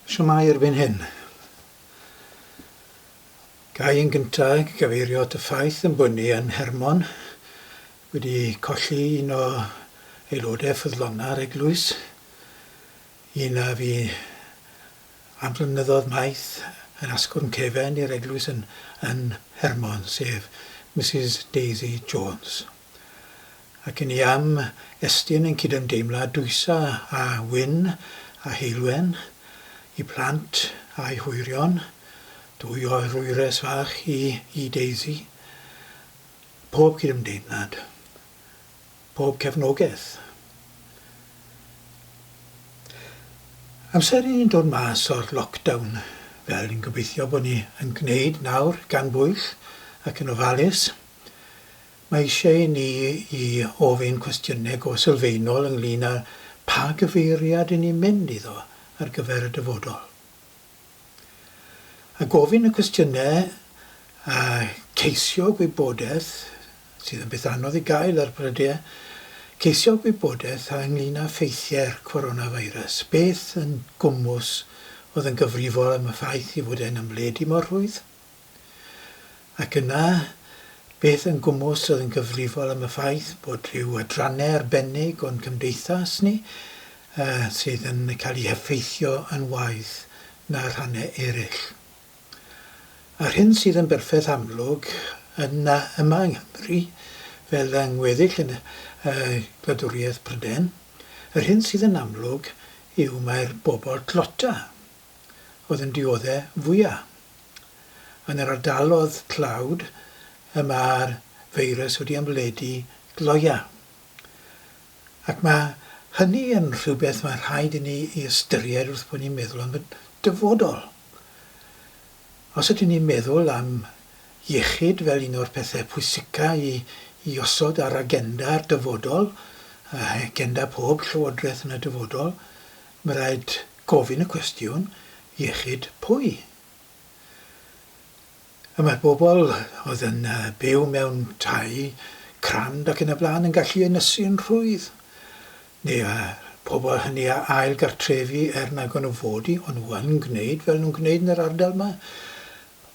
Shwmae erbyn hyn. Ga i yn gyntaf gyfeirio at y ffaith ein bod ni yn Hermon wedi colli un o aelodau ffyddlonau'r eglwys, un a fu am flynyddoedd maith yn asgwrn cefen i'r eglwys yn Hermon, sef Misus Daisy Jones. ac yn ei am estyn ein cydymdeimlad dwysa â Wynne a Heulwen, y plant a'u hwyrion, dwy oerwyres fach i i Daisy. Pob cydymdeimlad. Pob cefnogaeth. Amser i ni'n dod mas o'r lockdown, fel ni'n gobeithio bod ni yn gwneud nawr gan bwyll ac yn ofalus. Mae eisiau ni i ofyn cwestiynau go sylfaenol ynglŷn â pha gyfeiriad y'n ni'n mynd iddo ar gyfer y dyfodol. A gofyn y cwestiynau a ceisio gwybodaeth, sydd yn beth anodd i gael ar brydiau, ceisio gwybodaeth a ynglŷn â ffeithiau'r coronavirus, beth yn gwmws oedd yn gyfrifol am y ffaith ei fod e'n ymledu mor rhwydd? Ac yna, beth yn gwmws oedd yn gyfrifol am y ffaith bod rhyw adrannau arbennig o'n cymdeithas ni sydd yn cael eu heffeithio yn waeth na rhannau eraill? A'r hyn sydd yn berffaith amlwg yn yma yng Nghymru, fel yng ngweddill y gwladwriaeth Prydain, yr hyn sydd yn amlwg yw mai'r bobl dlota, oedd yn diodde' fwya'. Yn yr ardalodd tlawd y mae'r feirws wedi ymledu gloia'. Ac mae hynny yn rhywbeth mae rhaid i ni ei ystyried wrth bod ni'n meddwl am y dyfodol. Os ydyn ni'n meddwl am iechyd fel un o'r pethe' pwysica' i i osod ar agenda'r dyfodol, agenda pob llywodraeth yn y dyfodol, Mae rhaid gofyn y cwestiwn, iechyd pwy? A mae'r bobl oedd yn byw mewn tai crand ac yn y blaen yn gallu ynysu yn rhwydd. Neu y pobl hynny a ail gartrefu er nag o'n nhw fod i, o'n nhw yn gwneud fel nhw'n gwneud yn yr ardal yma.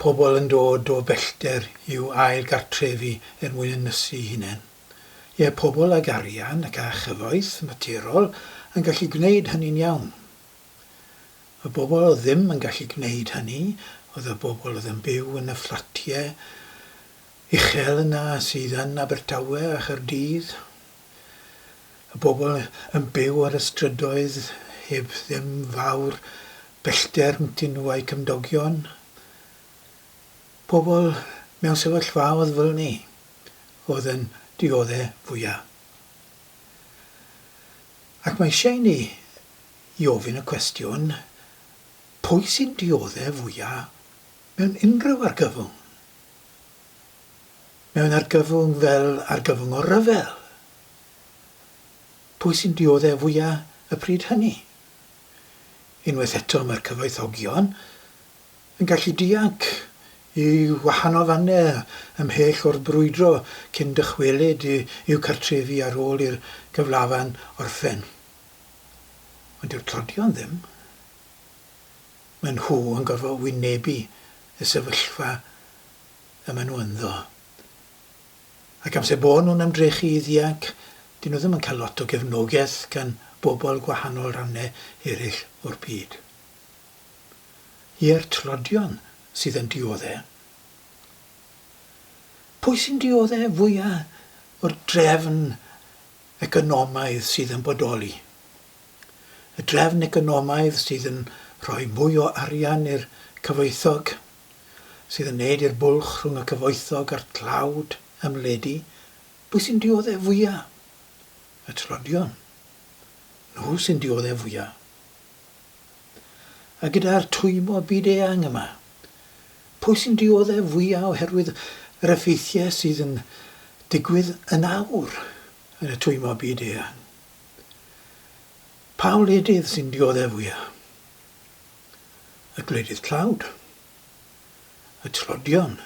Pobl yn dod o bellter i'w ail gartrefu er mwyn ynysu i hunain. Ie, pobl ag arian ac â chyfoeth maturol yn gallu gwneud hynny'n iawn. Y bobl oedd ddim yn gallu gwneud hynny oedd y bobl oedd yn byw yn y fflatiau uchel yna sydd yn Abertawe a Chaerdydd, y bobl yn byw ar y strydoedd heb ddim fawr bellter rhyngddyn nhw a'u cymdogion, pobl mewn sefyllfaoedd fel 'ny. oedd yn diodde fwya. Ac mae eisiau i ni i ofyn y cwestiwn, pwy sy'n diodde fwya mewn unrhyw argyfwng? Mewn argyfwng fel argyfwng o ryfel? Pwy sy'n diodde fwya y pryd hynny? Unwaith eto mae'r cyfoethogion yn gallu dianc i wahanol fannau ymhell o'r brwydro cyn dychwelyd i'w cartrefi ar ôl i'r gyflafan orffen. Ond dyw'r tlodion ddim. Maen nhw yn gorfod wynebu y sefyllfa y maen nhw ynddo. Ac amser bo nhw'n ymdrechu i ddianc, dyn nhw ddim yn cael lot o gefnogaeth gan bobl gwahanol rannau eraill o'r byd. I'r tlodion sydd yn diodde'. Pwy sy'n diodde' fwya' o'r drefn economaidd sydd yn bodoli? Y drefn economaidd sydd yn rhoi mwy o arian i'r cyfoethog, sydd yn neud i'r bwlch rhwng y cyfoethog a'r tlawd ymledu, pwy sy'n diodde' fwya'? Y tlodion. Nhw sy'n diodde' fwya'. A gyda'r twymio byd-eang yma, pwy sy'n dioddef fwya' oherwydd yr effeithiau sydd yn digwydd yn awr yn y twymio byd-eang? Pa wledydd sy'n dioddef fwya'? Y gwledydd tlawd? Y tlodion?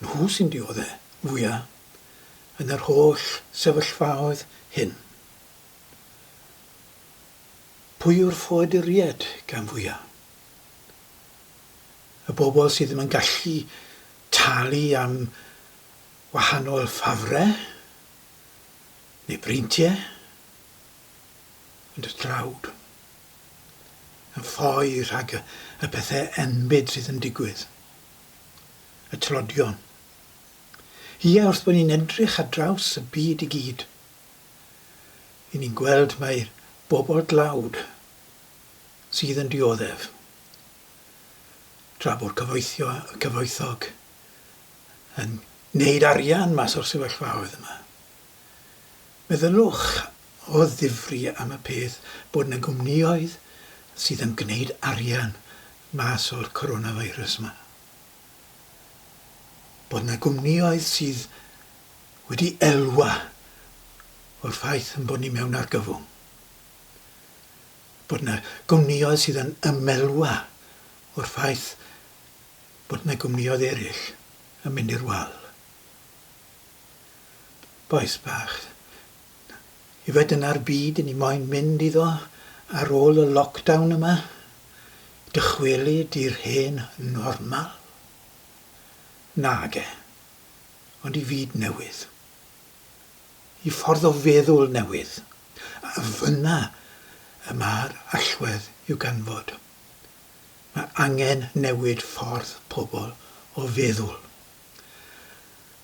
Nhw sy'n dioddef fwya' yn yr holl sefyllfaoedd hyn. Pwy yw'r ffoaduriaid gan fwyaf? Y bobl sydd ddim yn gallu talu am wahanol ffafrau neu breintiau, ond y dlawd yn ffoi rhag y pethau enbyd sydd yn digwydd, y tlodion. Ie, wrth bod ni'n edrych ar draws y byd i gyd, Ry'n ni'n gweld mai bobl dlawd sydd yn dioddef, tra bo'r cyfoethio- cyfoethog yn neud arian mas o'r sefyllfaoedd yma. Meddyliwch o ddifri am y peth bod 'na gwmnioedd sydd yn gneud arian mas o'r coronavirus 'ma. Bod 'na gwmnioedd sydd wedi elwa o'r ffaith ein bod ni mewn argyfwng, bod yna gwmnïoedd sydd yn ymelwa o'r ffaith bod yna gwmnïoedd eraill yn mynd i'r wal. Bois bach, yfed yna'r byd i ni moyn mynd iddo ar ôl y lockdown yma, dychwelyd i'r hen normal? Nage. ond i fyd newydd, i ffordd o feddwl newydd, a fynna y mae'r allwedd i'w ganfod. Mae angen newid ffordd pobl o feddwl,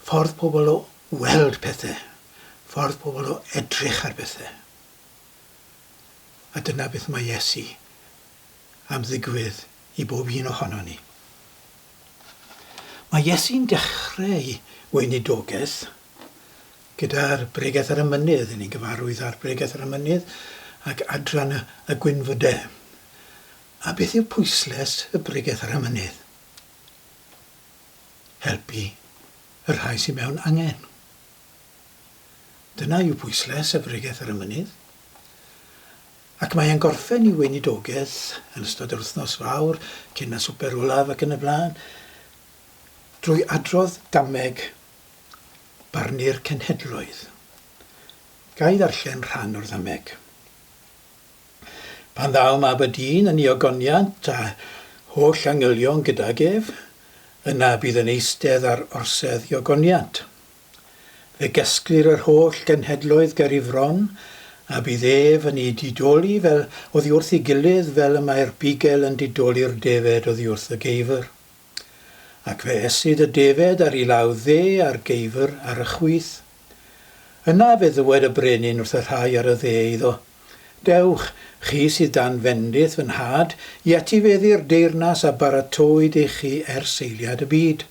ffordd pobl o weld pethau, ffordd pobl o edrych ar bethau. A dyna beth mae Iesu am ddigwydd i bob un ohonon ni. Mae Iesu'n dechreu'i weinidogaeth gyda'r Bregeth ar y Mynydd, ry'n ni'n gyfarwydd â'r Bregeth ar y Mynydd ac Adran y Gwynfydau. A beth yw pwysles y Bregeth ar y Mynydd? Helpu y rhai sydd mewn angen. Dyna yw pwysles y Bregeth ar y Mynydd. Ac mae e'n gorffen i weinidogaeth yn ystod yr wythnos fawr, cyn y swper olaf ac yn y blaen, drwy adrodd dameg barnu'r cenhedloedd. Ga i ddarllen rhan o'r ddameg? Pan ddaw mab y dyn yn ei ogoniant a holl angylion gydag ef, yna bydd yn eistedd ar orsedd i ogoniant. Fe gesglir yr holl genhedloedd ger i fron, a bydd ef yn eu didoli fel oddi wrth ei gilydd fel y mae'r bugel yn didoli'r defed oddi wrth y geifr. Ac fe esydd y defed ar ei law dde a'r geifr ar y chwith. Yna fe ddywed y brenin wrth y rhai ar y dde iddo, Dewch, chi sydd dan fendith fy nhad, i etifeddu'r deyrnas a baratowyd i chi ers eiliad y byd.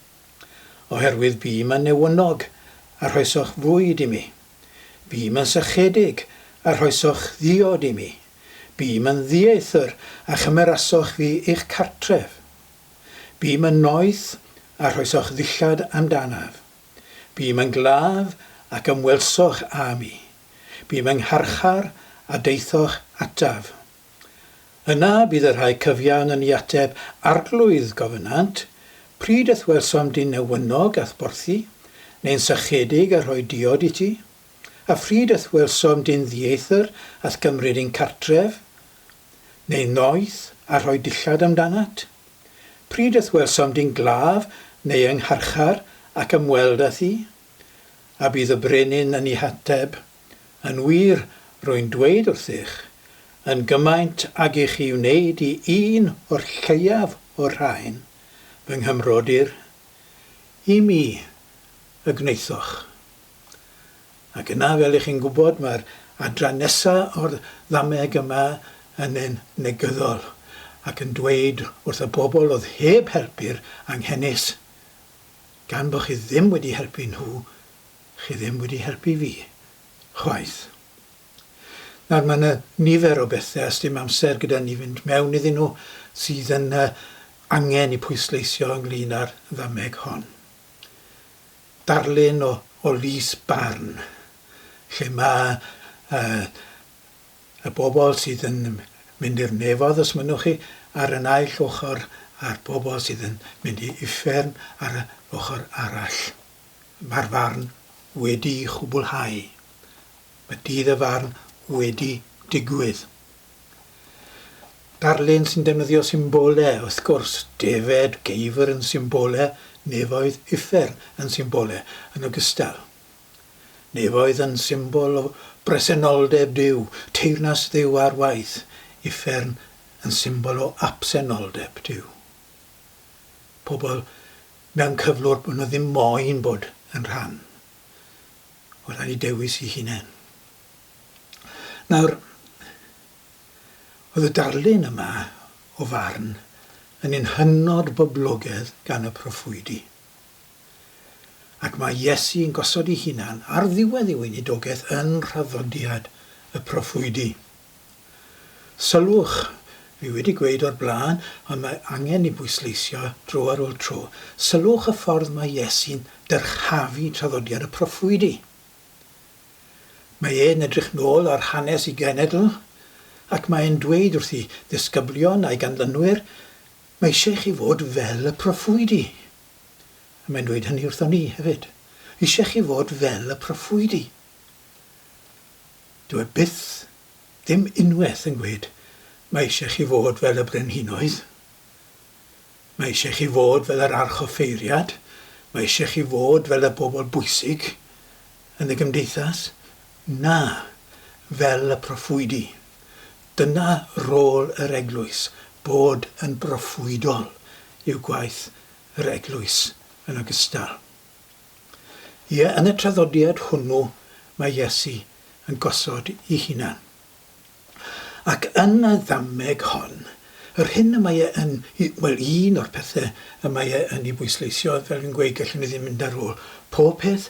Oherwydd bûm yn newynnog a rhoesoch fwyd i mi, bûm yn sychedig a rhoesoch ddiod i mi, bûm yn ddieithr a chymerasoch fi i'ch cartref, bûm yn noeth a rhoesoch ddillad amdanaf, bûm yn glaf ac ymwelsoch â mi, bûm yng ngharchar a daethoch ataf. Yna bydd y rhai cyfiawn yn i ateb Arglwydd gofynant, Pryd ith welsom dyn newynog a'th borthi, neu'n sychedig a rhoi diod i ti? A phryd ith welsom dyn ddieithr a'th gymryd i'n cartref, neu'n noeth a rhoi dillad amdanat? Pryd ith welsom dyn glaf neu yng ngharchar ac ymweld â thi? A bydd y brenin yn i hateb, Yn wir, rwy'n dweud wrthych, yn gymaint ag i chi wneud i un o'r lleiaf o'r rhain, fy nghymrodyr, i mi y gwnaethoch. Ac yna, fel ych chi'n gwybod, mae'r adran nesa' o'r ddameg yma yn un negyddol, ac yn dweud wrth y bobl oedd heb helpu'r anghenus, gan bo' chi ddim wedi helpu nhw, Chi ddim wedi helpu fi. Chwaith. Nawr mae yna nifer o bethe a sdim amser gyda ni fynd mewn iddyn nhw sydd yn yy angen i pwysleisio ynglyn â'r ddameg hon. Darlun o o lys barn lle mae yy y bobl sydd yn mynd i'r nefodd os mynnwch chi ar y naill ochr a'r bobl sydd yn mynd i uffern ar y ochr arall. Mae'r farn wedi'i chwblhau. Mae dydd y farn wedi digwydd. Darlun sy'n defnyddio symbole, wrth gwrs, defaid, geifr yn symbole, nefoedd, uffern yn symbole yn ogystal. Nefoedd yn symbol o bresenoldeb Duw, teyrnas Dduw ar waith, uffern yn symbol o absenoldeb Duw. Pobl mewn cyflwr bod nhw ddim moyn bod yn rhan o'r rhai dewis eu hunain. Nawr, oedd y darlun yma o farn yn un hynod boblogedd gan y proffwydi. Ac mae Iesu yn gosod ei hunan ar ddiwedd ei weinidogaeth yn nhraddodiad y proffwydi. Sylwch, fi wedi gweud o'r blaen, ond mae angen ei bwysleisio dro ar ôl tro, sylwch y ffordd mae Iesu'n dyrchafu traddodiad y proffwydi. Mae e'n edrych nôl ar hanes y genedl, ac mae e'n dweud wrthi ddisgyblion a'i ganlynwyr, mae eisiau chi fod fel y proffwydi. A mae'n dweud hynny wrthon ni, hefyd. Eisiau chi fod fel y proffwydi. Dyw e byth ddim unwaith yn gweud, Mae eisiau chi fod fel y brenhinoedd. Mae eisiau chi fod fel yr archoffeiriad. Mae eisiau chi fod fel y bobl bwysig yn y gymdeithas. Na, fel y proffwydi. Dyna rôl yr Eglwys, bod yn broffwydol yw gwaith yr Eglwys yn ogystal. Ie, yn y traddodiad hwnnw mae Iesu yn gosod i hunan. Ac yn y ddameg hon, yr hyn y mae e yn, wel, un o'r pethe y mae e yn 'i bwysleisio, fel fi'n gweud, gellwn ni ddim mynd ar ôl pob peth,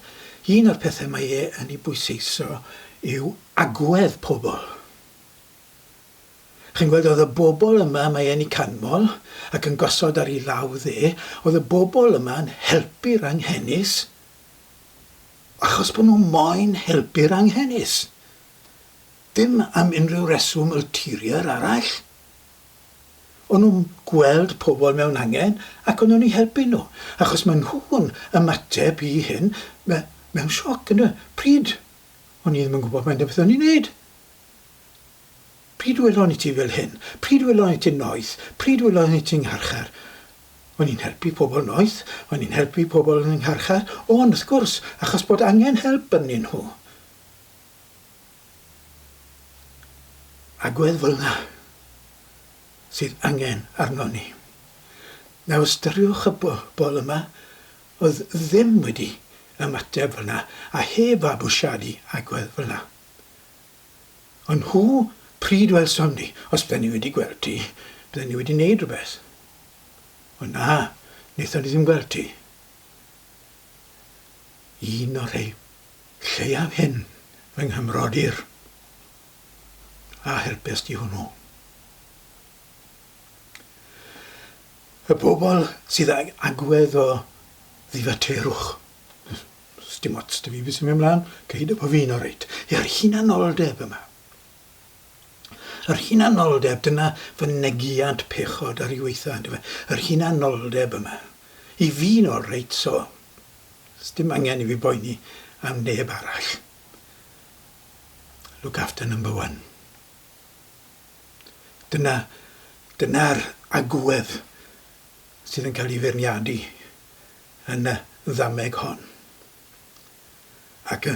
un o'r pethe mae e yn 'i bwyseiso yw agwedd pobl. Chi'n gweld, oedd y bobl yma, mae e'n 'u canmol ac yn gosod ar 'i law dde, oedd y bobl yma yn helpu'r anghenus achos bod nhw moyn helpu'r anghenus. Dim am unrhyw reswm ulterior arall. O'n nhw'n gweld pobl mewn angen ac o'n nhw'n 'u helpu nhw, achos maen nhw'n ymateb i hyn me- mewn sioc, ynde. Pryd? O'n i ddim yn gwybod faint o beth o'n i'n wneud. Pryd welon i ti fel hyn? Pryd welon i ti noeth? Pryd welon i ti ngharchar? O'n i'n helpu pobl noeth, o'n i'n helpu pobl yn y ngharchar, o'n, wrth gwrs, achos bod angen help ynddyn nhw. Agwedd fel yna sydd angen arnon ni. Nawr ystyriwch y bobl yma oedd ddim wedi ymateb fel yna a heb fabwysiadu agwedd fel yna. Ond nhw, pryd welsom ni? Os bydden ni wedi gweld ti, bydden ni wedi neud rhywbeth. Ond na, wnaethon ni ddim gweld ti. Un o'r rhei lleiaf hyn fy nghymrodyr, a helpes di hwnnw. Y bobl sydd ag agwedd o ddifaterwch. Sdim ots 'da fi beth sy'n mynd mlan, gei dy bo' fi'n oreit. Yr hunanoldeb yma. Yr hunanoldeb, dyna fy negiant pechod ar ei waetha, on'd yfe? Yr hunanoldeb yma. I fi'n olreit, so, sdim angen i fi boeni am neb arall. Look after number one. Dyna, dyna'r agwedd sydd yn cael ei feirniadu yn y ddameg hon. Ac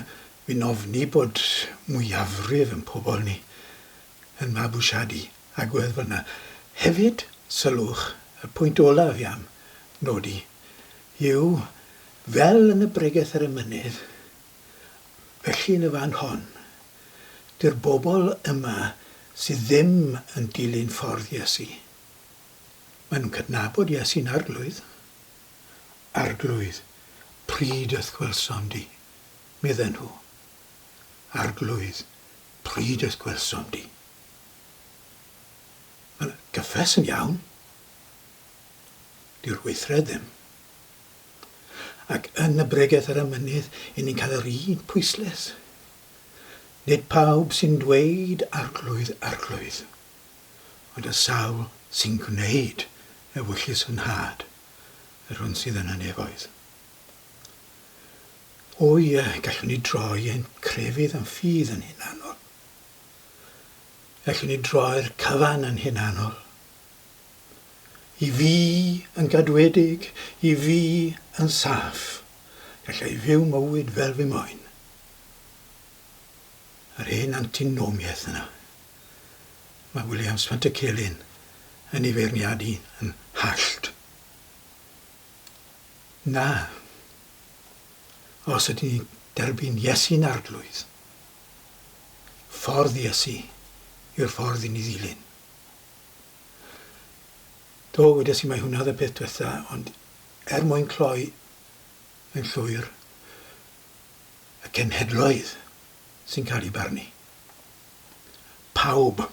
fi'n ofni bod mwyafrif yn pobl ni yn mabwysiadu agwedd fan'na. Hefyd, sylwch, y pwynt olaf fi am nodi yw, fel yn y bregeth ar y mynydd, felly yn y fan hon, dy'r bobl yma sydd ddim yn dilyn ffordd Iesu, maen nhw'n cydnabod Iesu'n Arglwydd, Arglwydd, pryd y gwelsom di? medden nhw. Arglwydd, pryd y gwelsom di? Mae'n gyffes yn iawn. Dyw'r weithred ddim. Ac yn y bregeth ar y mynydd, i ni'n cael yr un pwyslais. Nid pawb sy'n dweud, Arglwydd, Arglwydd. ond y sawl sy'n gwneud ewyllys fy nhad, yr hwn sydd yn y nefoedd. O ie, gallwn ni droi ein crefydd yn ffydd yn hunanol. Gallwn ni droi'r cyfan yn hunanol. I fi yn gadwedig, i fi yn saff, gallai fyw mywyd fel fy moen. Yr hen antinomiaeth yna. Mae Williams Pantycelyn yn ei feirniadu yn hallt. Na. Os ydyn ni'n derbyn Iesu'n Arglwydd, ffordd Iesu yw'r ffordd i ni ddilyn. Do, wedes i mae hwnna oedd y peth diwetha, ond er mwyn cloi yn llwyr y cenhedloedd sy'n cael ei barnu. pawb,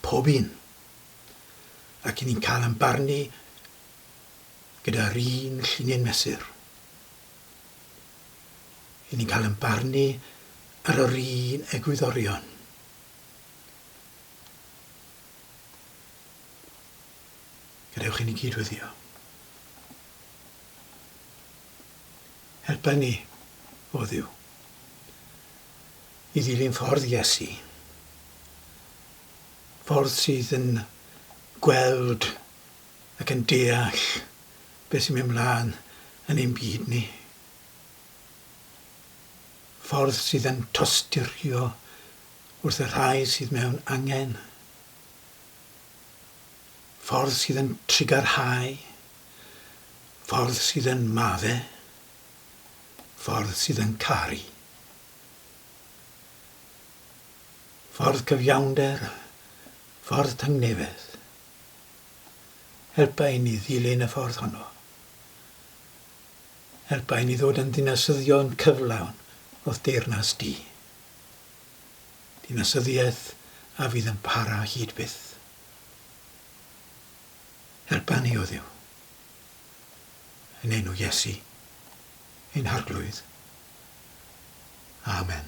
pob un, ac i ni'n cael ein barnu gyda'r un llinyn mesur. I ni'n cael ein barnu ar yr un egwyddorion. Gadewch i ni gydweddio. Helpa ni, o Dduw. i ddilyn ffordd Iesu, ffordd sydd yn gweld ac yn deall beth sy'n mynd mlaen yn ein byd ni, ffordd sydd yn tosturio wrth y rhai sydd mewn angen, ffordd sydd yn trugarhau, ffordd sydd yn madde. Ffordd sydd yn caru. Ffordd cyfiawnder a ffordd tangnefedd. Helpa i ni ddilyn y ffordd honno. Helpa i ni ddod yn ddinasyddion cyflawn o'th deyrnas di. Dinasyddiaeth a fydd yn para hyd byth. Helpa ni, o Dduw. yn enw Iesu, ein Harglwydd. Amen.